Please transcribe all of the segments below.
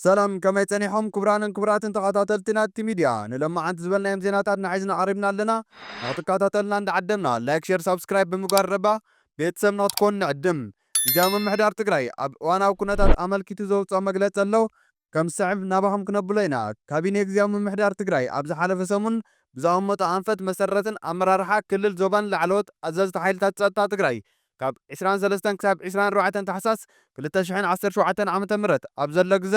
ሰላም ከመይ ጸኒሖም ክቡራንን ክቡራትን ተኻታተልቲ ናቲ ሚድያ ንሎማዓንቲ ዝበልናዮም ዜናታትና ሒዝና ቀሪብና ኣለና ንኽትካታተሉና እንዳዓደምና ላይክ ሸር ሳብስክራይብ ብምግባር ረባ ቤተሰብ ንኽትኮኑ ንዕድም ግዝያዊ ምምሕዳር ትግራይ ኣብ እዋናዊ ኩነታት ኣመልኪቱ ዘውጽኦ መግለጺ ኣሎ ከም ዝስዕብ ናባኹም ክነብሎ ኢና ካቢኔ ግዝያዊ ምምሕዳር ትግራይ ኣብ ዝሓለፈ ሰሙን ብዘቐመጦ ኣንፈት መሰረትን ኣመራርሓ ክልል ዞባን ላዕለዎት ኣዘዝቲ ሓይልታት ጸጥታ ትግራይ ካብ ዕስራን ሰለስተን ክሳብ ዕስራን ኣርባዕተን ታሕሳስ ክልተ ሽሕን ዓሰርተ ሸውዓተን ዓመተ ምህረት ኣብ ዘሎ ግዘ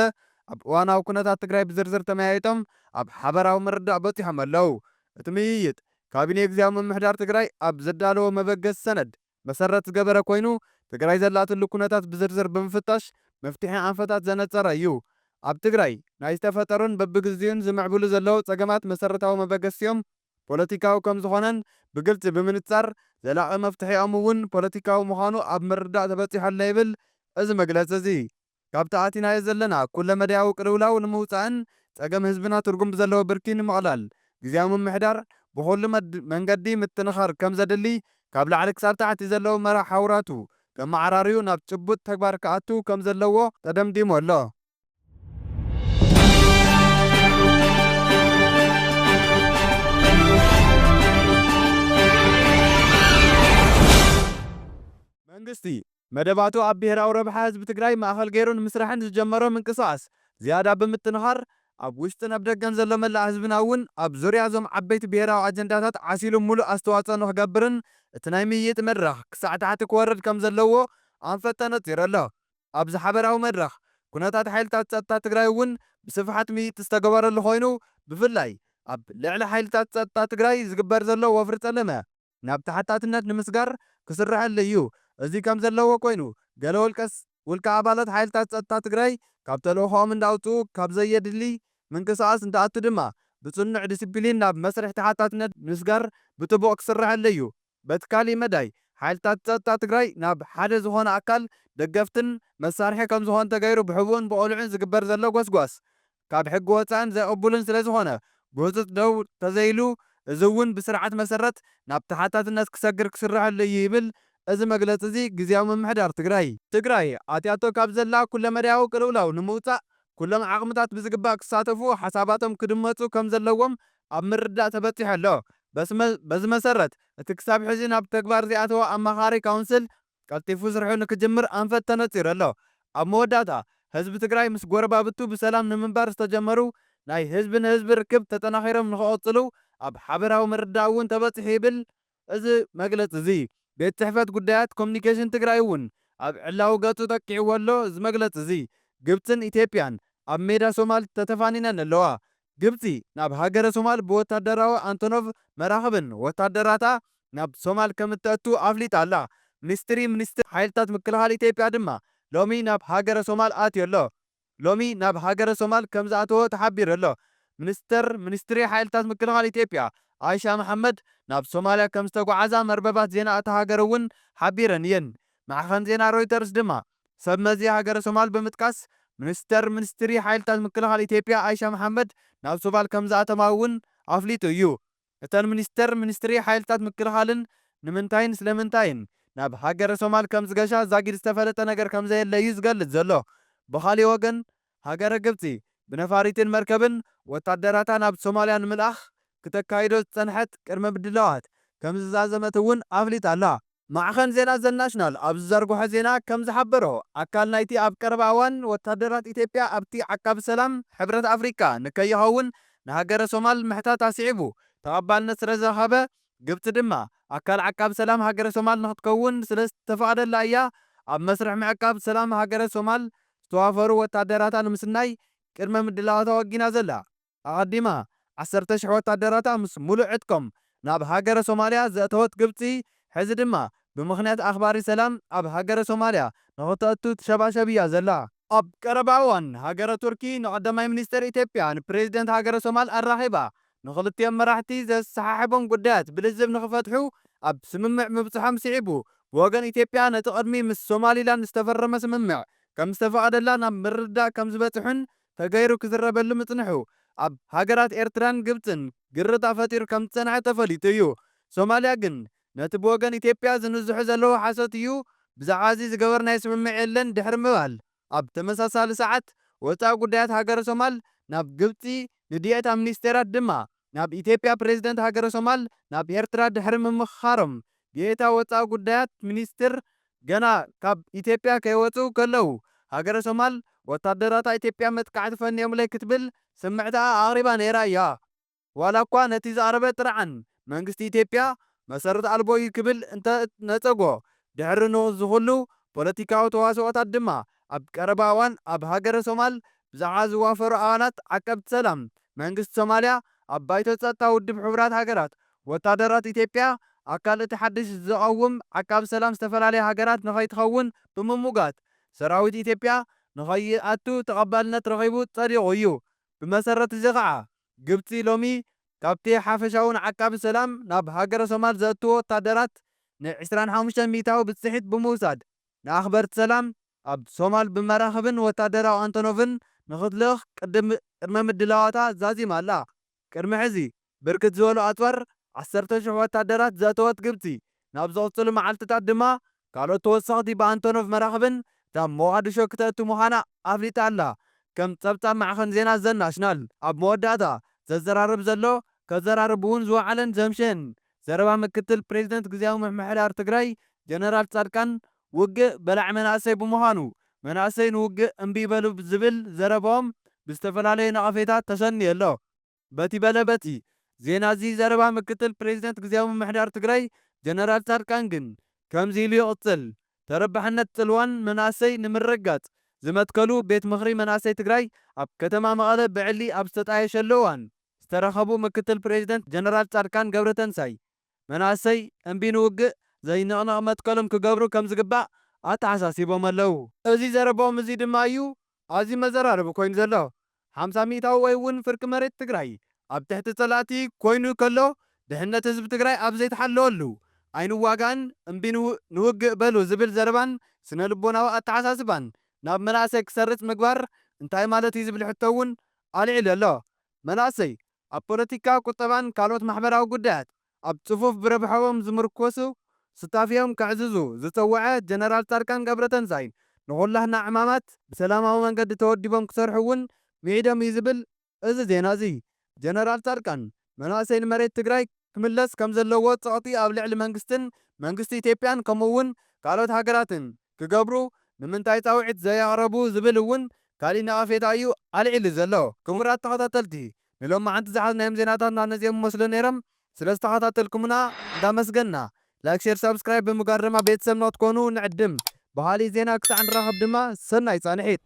ኣብ እዋናዊ ኩነታት ትግራይ ብዝርዝር ተመያይጦም ኣብ ሓበራዊ ምርዳእ በፂሖም ኣለው። እቲ ምይይጥ ካቢኔ ግዝያዊ ምምሕዳር ትግራይ ኣብ ዘዳለዎ መበገሲ ሰነድ መሰረት ዝገበረ ኮይኑ ትግራይ ዘላትሉ ኩነታት ብዝርዝር ብምፍታሽ መፍትሒ ኣንፈታት ዘነፀረ እዩ። ኣብ ትግራይ ናይ ዝተፈጠሩን በብግዚኡን ዝምዕብሉ ዘለው ፀገማት መሰረታዊ መበገሲኦም ፖለቲካዊ ከም ዝኾነን ብግልፂ ብምንፃር ዘላቒ መፍትሒኦም እውን ፖለቲካዊ ምዃኑ ኣብ ምርዳእ ተበፂሑ ኣሎ ይብል እዚ መግለፂ እዚ። ካብቲ ኣቲናዮ ዘለና ኩለ መዳያዊ ቅልውላው ንምውፃእን ፀገም ህዝብና ትርጉም ብዘለዎ ብርኪ ንምቕላል ግዝያዊ ምምሕዳር ብኹሉ መንገዲ ምጥንኻር ከም ዘድሊ ካብ ላዕሊ ክሳብ ታሕቲ ዘለዉ መርሓ ሓውራቱ ከመዓራርዩ ናብ ጭቡጥ ተግባር ክኣቱ ከም ዘለዎ ተደምዲሙ ኣሎ። መንግስቲ፣ መደባቱ ኣብ ብሄራዊ ረብሓ ህዝቢ ትግራይ ማእኸል ገይሩ ንምስራሕን ዝጀመሮ ምንቅስቓስ ዝያዳ ብምጥንኻር፣ ኣብ ውሽጥን ኣብ ደገን ዘሎ መላእ ህዝብና እውን ኣብ ዙርያ እዞም ዓበይቲ ብሄራዊ ኣጀንዳታት ዓሲሉ ሙሉእ ኣስተዋፅኦ ንኽገብርን እቲ ናይ ምይይጥ መድረኽ ክሳዕ ታሕቲ ክወርድ ከምዘለዎ ኣንፈት ተነፂሩ ኣሎ። ኣብዚ ሓበራዊ መድረኽ ኩነታት ሓይልታት ፀጥታ ትግራይ እውን ብስፍሓት ምይይጥ ዝተገበረሉ ኮይኑ ብፍላይ ኣብ ልዕሊ ሓይልታት ፀጥታ ትግራይ ዝግበር ዘሎ ወፍሪ ፀለመ ናብ ተሓታትነት ንምስጋር ክስረሐሉ እዩ እዚ ከም ዘለዎ ኮይኑ ገለ ውልቀ ውልቀ ኣባላት ሓይልታት ፀጥታ ትግራይ ካብ ተልእኾኦም እንዳውፅኡ ካብ ዘየድሊ ምንቅስቓስ እንትኣቱ ድማ ብፅኑዕ ዲሲፕሊን ናብ መስርሕ ተሓታትነት ምስጋር ብጥቡቕ ክስረሐሉ እዩ በቲ ካሊእ መዳይ ሓይልታት ፀጥታ ትግራይ ናብ ሓደ ዝኾነ ኣካል ደገፍትን መሳርሒ ከምዝኾኑ ተገይሩ ብሕቡእን ብቅሉዕን ዝግበር ዘሎ ጎስጓስ ካብ ሕጊ ወፃእን ዘይቅቡልን ስለዝኾነ ብህፁፅ ደው ተዘይሉ እዚ እውን ብስርዓት መሰረት ናብ ተሓታትነት ክሰግር ክስረሐሉ እዩ ይብል እዚ መግለፂ እዚ ግዝያዊ ምምሕዳር ትግራይ። ትግራይ ኣትያቶ ካብ ዘላ ኩለመዳያዊ ቅልውላው ንምውፃእ ኩሎም ዓቕምታት ብዝግባእ ክሳተፉ ሓሳባቶም ክድመፁ ከምዘለዎም ኣብ ምርዳእ ተበጺሑ ኣሎ። በዚ መሰረት፣ እቲ ክሳብ ሕዚ ናብ ተግባር ዘይኣተወ ኣማኻሪ ካውንስል ቀልጢፉ ስርሑ ንክጅምር ኣንፈት ተነጺሩ ኣሎ። ኣብ መወዳእታ፣ ህዝቢ ትግራይ ምስ ጎረባብቱ ብሰላም ንምንባር ዝተጀመሩ ናይ ህዝቢ ንህዝቢ ርክብ ተጠናኺሮም ንክቕጽሉ ኣብ ሓበራዊ ምርዳእ እውን ተበጺሑ ይብል እዚ መግለፂ እዚ ቤት ፅሕፈት ጉዳያት ኮሙኒኬሽን ትግራይ እውን ኣብ ዕላዊ ገፁ ጠቂዕዎ ኣሎ። እዚ መግለፂ እዚ ግብፅን ኢትዮጵያን ኣብ ሜዳ ሶማል ተተፋኒነን ኣለዋ። ግብፂ ናብ ሃገረ ሶማል ብወታደራዊ ኣንቶኖቭ መራኽብን ወታደራታ ናብ ሶማል ከም እተእቱ ኣፍሊጣ ኣላ። ሚኒስትሪ ሚኒስትር ሓይልታት ምክልኻል ኢትዮጵያ ድማ ሎሚ ናብ ሃገረ ሶማል ኣትዩ ኣሎ። ሎሚ ናብ ሃገረ ሶማል ከምዝኣተወ ተሓቢሩ ኣሎ። ሚኒስተር ሚኒስትሪ ሓይልታት ምክልኻል ኢትዮጵያ ኣይሻ መሓመድ ናብ ሶማልያ ከምዝተጓዓዛ መርበባት ዜና እታ ሃገር'ውን ሓቢረን እየን። ማዕኸን ዜና ሮይተርስ ድማ ሰብ መዚ ሃገረ ሶማል ብምጥቃስ ሚኒስተር ሚኒስትሪ ሓይልታት ምክልኻል ኢትዮጵያ ኣይሻ መሓመድ ናብ ሶማል ከምዝኣተማ'ውን ኣፍሊጡ እዩ። እተን ሚኒስትር፣ ሚኒስትሪ ሓይልታት ምክልኻልን ንምንታይን ስለምንታይን ናብ ሃገረ ሶማል ከምዝገሻ ዛጊድ ዝተፈለጠ ነገር ከምዘየለ እዩ ዝገልጽ ዘሎ። ብኻሊእ ወገን ሃገረ ግብጺ ብነፋሪትን መርከብን ወታደራታ ናብ ሶማልያ ንምልኣኽ ክተካይዶ ዝጸንሐት ቅድመ ምድላዋት ከምዝዛዘመት እውን ኣፍሊጣ ኣላ። ማዕኸን ዜና ዘናሽናል ኣብ ዝዘርግሖ ዜና ከም ዝሓበሮ፣ ኣካል ናይቲ ኣብ ቀረባ እዋን ወታደራት ኢትዮጵያ ኣብቲ ዓቃቢ ሰላም ሕብረት ኣፍሪቃ ንከይኸውን ንሃገረ ሶማል ምሕታታ ስዒቡ ተቐባልነት ስለዝረኸበ፣ ግብጺ ድማ ኣካል ዓቃቢ ሰላም ሃገረ ሶማል ንኽትከውን ስለዝተፈቐደላ እያ ኣብ መስርሕ ምዕቃብ ሰላም ሃገረ ሶማል ዝተዋፈሩ ወታደራታ ንምስናይ ቅድመ ምድላዋታ ወጊና ዘላ። ኣቐዲማ ዓሰርተ ሽሕ ወታደራታ ምስ ሙሉእ ዕጥቆም ናብ ሃገረ ሶማልያ ዘእተወት ግብጺ፣ ሕዚ ድማ ብምኽንያት ኣኽባሪ ሰላም ኣብ ሃገረ ሶማልያ ንኽተእቱ ትሸባሸብ እያ ዘላ። ኣብ ቀረባ እዋን ሃገረ ቱርኪ ንቐዳማይ ሚኒስተር ኢትዮጵያ ንፕረዚደንት ሃገረ ሶማል ኣራኺባ ንኽልቲኦም መራሕቲ ዘሰሓሕቦም ጉዳያት ብልዝብ ንኽፈትሑ ኣብ ስምምዕ ምብጽሖም ስዒቡ ብወገን ኢትዮጵያ ነቲ ቅድሚ ምስ ሶማሊላንድ ዝተፈረመ ስምምዕ ከምዝተፈቐደላ ናብ ምርድዳእ ከምዝበጽሑን ተገይሩ ክዝረበሉ ምጽንሑ ኣብ ሃገራት ኤርትራን ግብጽን ግርጣ ፈጢሩ ከም ዝጸንሐ ተፈሊጡ እዩ። ሶማልያ ግን ነቲ ብወገን ኢትዮጵያ ዝንዝሑ ዘለዉ ሓሶት እዩ ብዛዕባዚ ዝገበርናዮ ስምምዕ የለን ድሕሪ ምባል ኣብ ተመሳሳሊ ሰዓት ወጻኢ ጉዳያት ሃገረ ሶማል ናብ ግብጺ ንድየት ኣብ ምኒስቴራት ድማ ናብ ኢትዮጵያ ፕሬዝደንት ሃገረ ሶማል ናብ ኤርትራ ድሕሪ ምምኽኻሮም ብኤታ ወጻኢ ጉዳያት ሚኒስትር ገና ካብ ኢትዮጵያ ከይወጽኡ ከለው ሃገረ ሶማል ወታደራታ ኢትዮጵያ መጥቃዕቲ ፈኒዮምለይ ክትብል ስምዕታኣ ኣቕሪባ ነይራ እያ ዋላኳ ነቲ ዝቐረበ ጥርዓን መንግስቲ ኢትዮጵያ መሰረት ኣልቦ እዩ ክብል እንተ ነጸጎ ድሕሪ ንዝኹሉ ፖለቲካዊ ተዋስኦታት ድማ ኣብ ቀረባ እዋን ኣብ ሃገረ ሶማል ብዛዕባ ዝዋፈሩ ኣባላት ዓቀብቲ ሰላም መንግስቲ ሶማልያ ኣብ ባይቶ ጸጥታ ውድብ ሕቡራት ሃገራት ወታደራት ኢትዮጵያ ኣካል እቲ ሓድሽ ዝቐውም ዓቃቢ ሰላም ዝተፈላለያ ሃገራት ንኸይትኸውን ብምሙጋት ሰራዊት ኢትዮጵያ ንኸይኣቱ ተቐባልነት ረኺቡ ጸዲቑ እዩ። ብመሰረት እዚ ኸኣ ግብጺ ሎሚ ካብቲ ሓፈሻዊ ንዓቃቢ ሰላም ናብ ሃገረ ሶማል ዘእትዎ ወታደራት ን ዕስራን ሓሙሽተን ሚእታዊ ብጽሒት ብምውሳድ ንኣኽበርቲ ሰላም ኣብ ሶማል ብመራኽብን ወታደራዊ ኣንቶኖቭን ንኽትልእኽ ቅድመ ምድላዋታ ዛዚማ ኣላ። ቅድሚ ሕዚ ብርክት ዝበሉ ኣፅዋር ዓሰርተ ሽሕ ወታደራት ዘእተወት ግብፂ፣ ናብ ዝቕፅሉ መዓልቲታት ድማ ካልኦት ተወሰኽቲ ብኣንቶኖቭ መራኽብን ናብ ሞቓድሾ ክተእቱ ምዃና ኣፍሊጣ ኣላ ከም ፀብፃብ ማዕኸን ዜና ዘ ናሽናል። ኣብ መወዳእታ ዘዘራርብ ዘሎ ከዘራርብ እውን ዝወዓለን ዘምሸየን ዘረባ ምክትል ፕሬዚደንት ግዝያዊ ምምሕዳር ትግራይ ጀነራል ፃድቃን ውግእ በላዒ መናእሰይ ብምዃኑ መናእሰይ ንውግእ እምቢ ይበሉ ዝብል ዘረበኦም ብዝተፈላለዩ ነቐፌታ ተሰንዩ ኣሎ። በቲ በለ በቲ ዜና እዚ ዘረባ ምክትል ፕሬዚደንት ግዝያዊ ምምሕዳር ትግራይ ጀነራል ፃድቃን ግን ከምዚ ኢሉ ይቕፅል። ተረባሕነት ፅልዋን መናእሰይ ንምርግጋፅ ዝመትከሉ ቤት ምኽሪ መናእሰይ ትግራይ ኣብ ከተማ መቐለ ብዕሊ ኣብ ዝተጣየሸሉ እዋን፣ ዝተረኸቡ ምክትል ፕሬዚደንት ጀነራል ፃድቃን ገብረተንሳይ፣ መናእሰይ እምቢ ንውግእ ዘይንቕነቕ መትከሎም ክገብሩ ከምዝግባእ ኣተሓሳሲቦም ኣለው። እዚ ዘረብኦም እዙይ ድማ እዩ ኣዝዩ መዘራረቢ ኮይኑ ዘሎ። ሓምሳ ሚኢታዊ ወይ እውን ፍርቂ መሬት ትግራይ ኣብ ትሕቲ ፀላእቲ ኮይኑ ከሎ ድሕነት ህዝቢ ትግራይ ኣብ ዘይተሓለወሉ ኣይንዋጋእን እምቢ ንውግእ በሉ ዝብል ዘረባን ስነ ልቦናዊ ኣተሓሳስባን ናብ መናእሰይ ክሰርፅ ምግባር እንታይ ማለት እዩ ዝብል ሕቶ እውን ኣልዒሉ ኣሎ። መናእሰይ ኣብ ፖለቲካ፣ ቁጠባን ካልኦት ማሕበራዊ ጉዳያት ኣብ ጽፉፍ ብረብሐኦም ዝምርኮሱ ሱታፌኦም ከዕዝዙ ዝጸወዐ ጀነራል ጻድቃን ገብረተንሳይ ንኹላህና ዕማማት ብሰላማዊ መንገዲ ተወዲቦም ክሰርሑ እውን ምዒዶም እዩ ዝብል እዚ ዜና እዚ። ጀነራል ጻድቃን መናእሰይ ንመሬት ትግራይ ክምለስ ከምዘለዎ ጸቕጢ ኣብ ልዕሊ መንግስትን መንግስቲ ኢትዮጵያን ከምኡ እውን ካልኦት ሃገራትን ክገብሩ ንምንታይ ጻውዒት ዘየቕረቡ ዝብል እውን ካሊእ ነቐፌታ እዩ ኣልዒሉ ዘሎ። ክቡራት ተኸታተልቲ ንሎማዓንቲ ዝሓዝናዮም ዜናታትና ነዚኦም ይመስሉ ነይሮም ስለዝተኸታተልኩምና እንዳመስገንና ላይክ ሼር ሳብስክራይብ ብምግባር ድማ ቤተሰብና ክትኮኑ ንዕድም ብኻሊእ ዜና ክሳዕ ንራኸብ ድማ ሰናይ ጻንሒት።